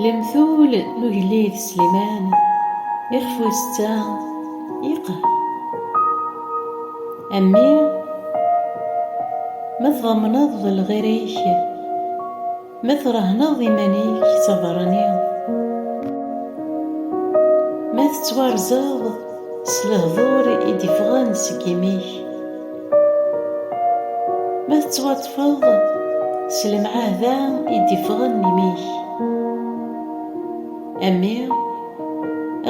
Lemtul n ugellid Sliman ixef wis tta iqe. A mmi, ma tḍemneḍ lɣir-ik, Ma trehneḍ iman-ik d abeṛṛani, ma tettwarzeḍ s lehdur i d-iffɣen seg imi-k, ma tettwaṭṭfeḍ s lemɛahda i d-iffɣen imi-k, a mmi,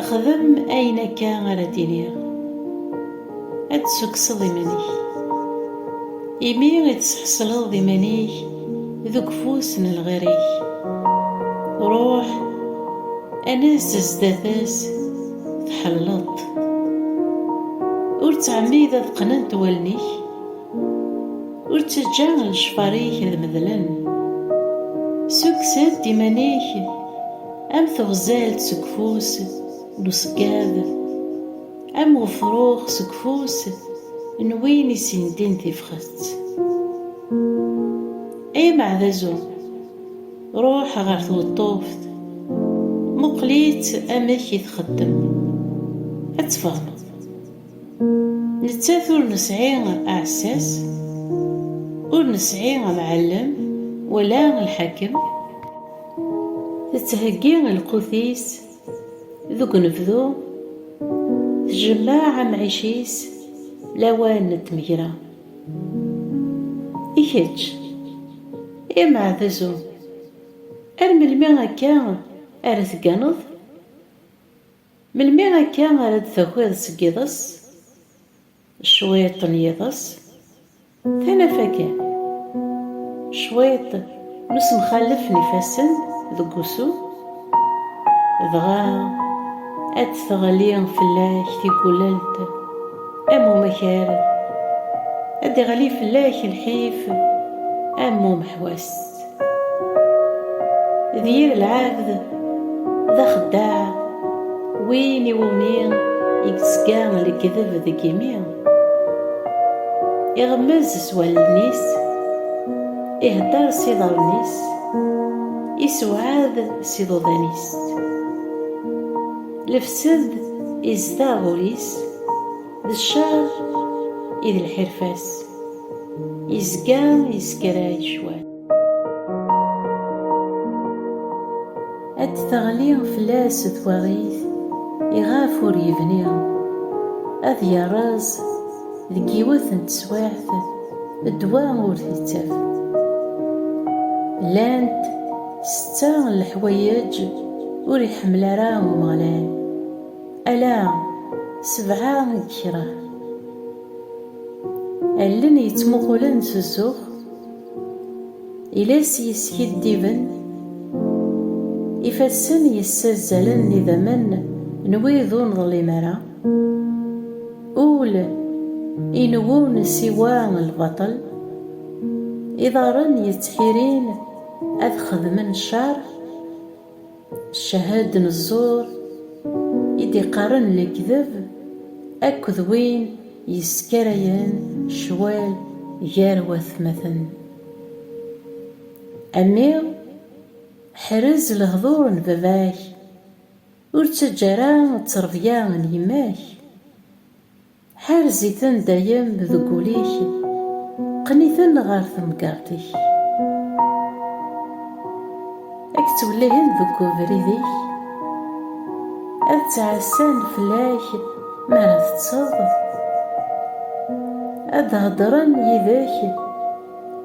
xdem ayen akka ara d-iniɣ. ad d-tessukkseḍ iman-ik. Imi i d-tesḥesleḍ iman-ik deg ufus n lɣir-ik. Ruḥ, anez zdat-s, tḥelleleḍ-t. Ur ttɛemmid ad qqnent wallen-ik, ur ttaǧǧa lecfar-ik ad medlen. Ssukkes-d iman-ik am tuɣzalt seg ufus n uṣeggad. Am wefrux seg ufus n win isindin tifxet. Ay ameɛdazu, ruḥ ɣer tweṭṭuft, muqel-itt amek i txeddem, ad tfehmeḍ. Nettat ur nesɛi aɛessas, ur nesɛi amɛellem wala lḥakem, tettheggi lqut-is Deg unebdu, tjemmeɛ amɛic-is lawan n tmegra. I kečč, a Maɛdazu, ar melmi akka ara tegganeḍ? Melmi akka ara d-takiḍ seg yiḍes? Cwiṭ n yiḍes, tanafa kan. Cwiṭ n usemxalef n ifassen deg wusu, dɣa ad d-teɣli fell-ak tigulelt am umakar, ad d-iɣli fell-ak lḥif am umḥwas. d yir lɛebd d axeddaɛ win iwumi i yezga lekdeb deg imi iɣemmez s wallen-is ihedder s iḍarren-is isewɛad s iḍudan-is lefsed izdeɣ ul-is d ccer i d lḥirfa-s yezga yeskeray cwal ad d-teɣli fell-as twaɣit iɣef ur yebni ad yerreẓ deg yiwet n teswiɛt ddwa ur t-ittaf llant setta n leḥwayeǧ ur iḥemmel ara Umeɣlal Ala sebɛa i d kra. Allen yettmuqulen s zzux, iles yeskiddiben, ifassen yessazzalen idammen n wid ur neḍlim ara, ul inewwun siwa lbaṭel, iḍarren yettḥirin ad xedmen ccer, Ccahad n ẓẓur i d-iqqaren lekdeb akked win yeskarayen ccwal gar watmaten. A mmi, ḥrez lehdur n baba-k, ur ttaǧǧa ara ttrebya n yemma-k. Ḥerz-iten dayem deg wul-ik, qqen-iten ɣer temgerḍt-ik. Ad k-ttwellihen deg ubrid-ik, ad ttɛassan fell-ak mi ara teṭṭseḍ, ad d-heddren yid-k,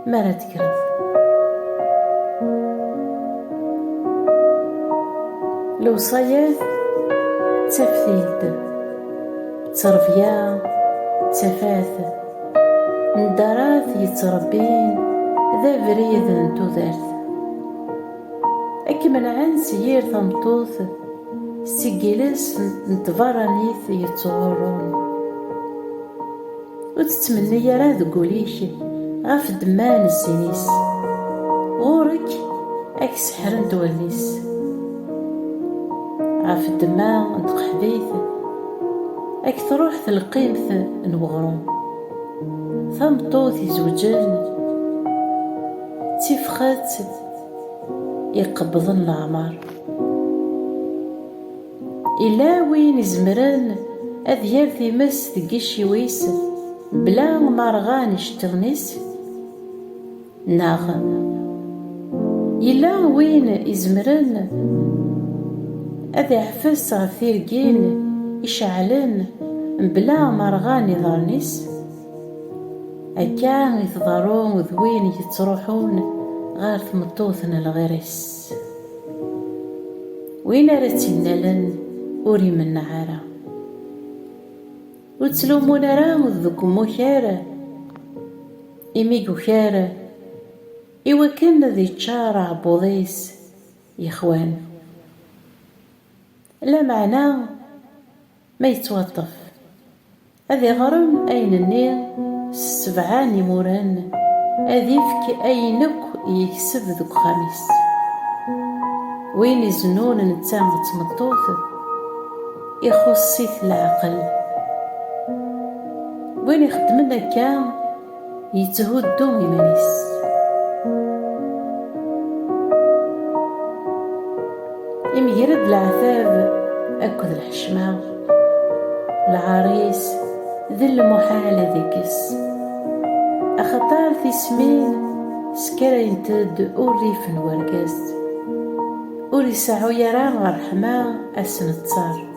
mi ara tekkreḍ. Lewṣayat d taftilt, ttrebya d tafat, ndarat yettrebbin d abrid n tudert. Ad k-menɛen s yir tameṭṭut, seg yiles n tberranit yettɣurrun. Ur tettmenni ara deg ul-ik ɣef ddemma n zzin-is, ɣur-k ad k-seḥrent wallen-is. Ɣef ddemma n tqeḥbit ad k-truḥ telqimt n weɣrum. Tameṭṭut izewǧen d tifxet iqebḍen leɛmer. Yella win izemren ad yerr times deg yiciwi-s bla ma rɣan iceṭṭiḍen-is? Neɣ yella win izemren ad iɛfes ɣef tirgin iceɛlen bla ma rɣan iḍarren-is? Akka i tḍerru d win yettruḥun ɣer tmeṭṭut n lɣir-is. Win ara tt-innalen ur imenneɛ ara. Ur ttlumun ara deg umukar imi yukar i wakken ad iččar aɛebbuḍ-is yexwan. Lameɛna ma yettwaṭṭef Ad iɣrem ayen-nni s sebɛa n yimuren, ad ifk ayen akk yekseb deg uxxam-is. Win izennun netta d tmeṭṭut, ixuṣṣ-it leɛqel. Win ixeddmen akka. yetthuddu iman-is. Imger-d leɛtab akked lḥecma, lɛar-is d lmuḥal ad ikkes, axaṭer tismin skarayent-d urrif n urgaz, ur iseɛɛu ara ṛṛeḥma asenettar.